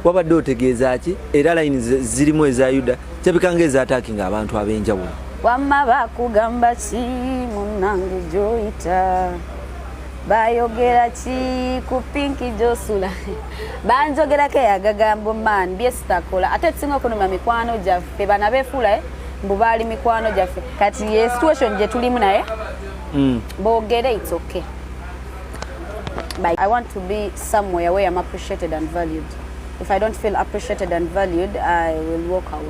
wabadde otegeeza ki era layini zirimu eza yuda kirabika nga ezaataaki nga abantu ab'enjawulo wamma bakugamba ki munnange gyoyita bayogera ki ku pinki gyosula banjogerako eyagagambo man byesitakola ate ekisinga okunuma mikwano gyaffe bana befuula eh? mbu baali mikwano gyaffe kati ye situation gye tulimu naye mm. boogere itsoke Bye. I want to be somewhere where I'm appreciated and valued. If I don't feel appreciated and valued, I will walk out.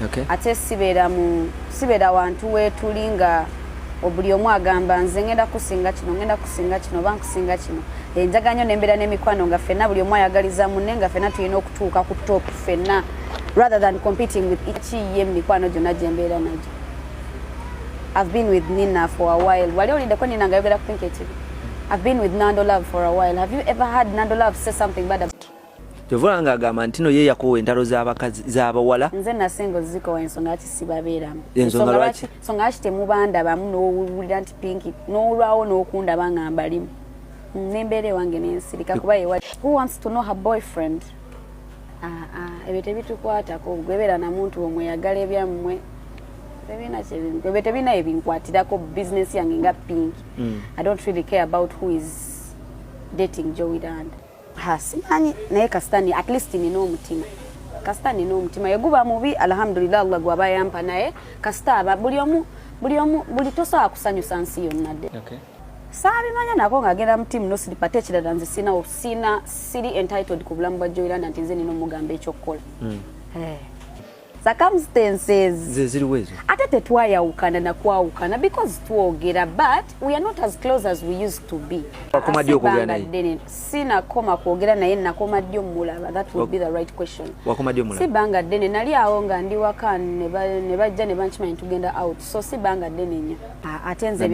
Okay. Ate sibeera mu sibeera wantu wetuli nga obuli omu agamba nze ngenda kusinga kino ngenda kusinga kino oba nkusinga kino enjaga nyo nembeera n'emikwano nga fenna buli omu ayagaliza munne nga fenna tulina okutuuka ku top fenna rather than competing with each ye mu mikwano gyonna gyembeera nagyo I've been with Nina for a while. Wali olinde ko Nina ngayogera ku Pink TV. I've been with Nando Love for a while. Have you ever had Nando Love say something bad about Tevula nga agamba ntino ye yakowa entalo z'abakazi z'abawala. Nze na singo ziko ensonga ki sibabeeramu. Ensonga lwaki? Ensonga ki temubanda bamu n'owulira nti Pink n'olwawo n'okunda banga mbalimu. N'embeera ewange n'ensirika kuba ye wali. Who wants to know her boyfriend? ah, ah, ebyo tebitukwatako gwebeera na muntu omweyagala ebyammwe ebyo tebina ebinkwatirako business yange nga pink mm. i don't really care about who is dating jowiland simanyi naye kasitani at least nina omutima kasita nina omutima yeguba mubi alhamdulillah allah gwaba yampa naye kasita aba buli omu buli omu buli tosobola kusanyusa nsi yonna dde saabimanya nako ng'agenda mu tiimu nosiripa ate ekirala nze sinawo sina siri entitled ku bulamu bwa joiranda nti nze nina omugamba ekyokukola hmm. eh. circumstancezeziruwezo ate tetwayawukana nakwawukana because twogera but we are not as close as we used to be akoma ddi okwogera naye sinakoma kwogera naye nakoma ddi omulaba that would be the right question wakoma ddi omulaba si banga ddene nali awo nga ndi waka ne bajja ne bankimanya tugenda out so si banga ddene nnyo ah, ate nze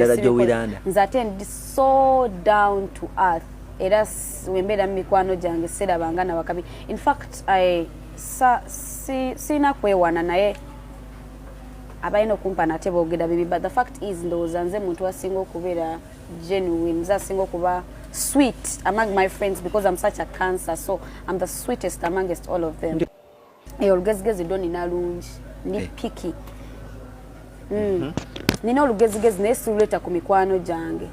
nze ate ndi so down to earth era wembeera mu mikwano gyange sirabanga na wakabi in fact I, sa, si, sirina kwewana naye abalina okumpa nate boogera bibi but the fact is ndowooza nze muntu asinga okubeera genuine nze asinga okuba sweet among my friends because I'm such a cancer so I'm the sweetest amongst all of them eyo olugezigezi do nina lungi ndi eh. piki mm. mhm. nina olugezigezi naye siruleeta ku mikwano gyange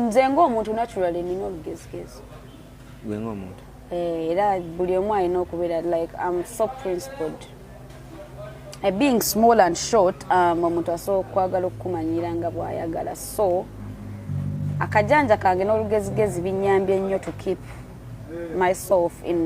nze ngaomuntu naturally nina olugezigezi gwe ngaomuntu eh, era buli omu alina okubeera like am so principled eh, being small and short um, omuntu asobola okwagala okukumanyira nga bwayagala so akajanja kange n'olugezigezi binyambye nnyo to keep myself in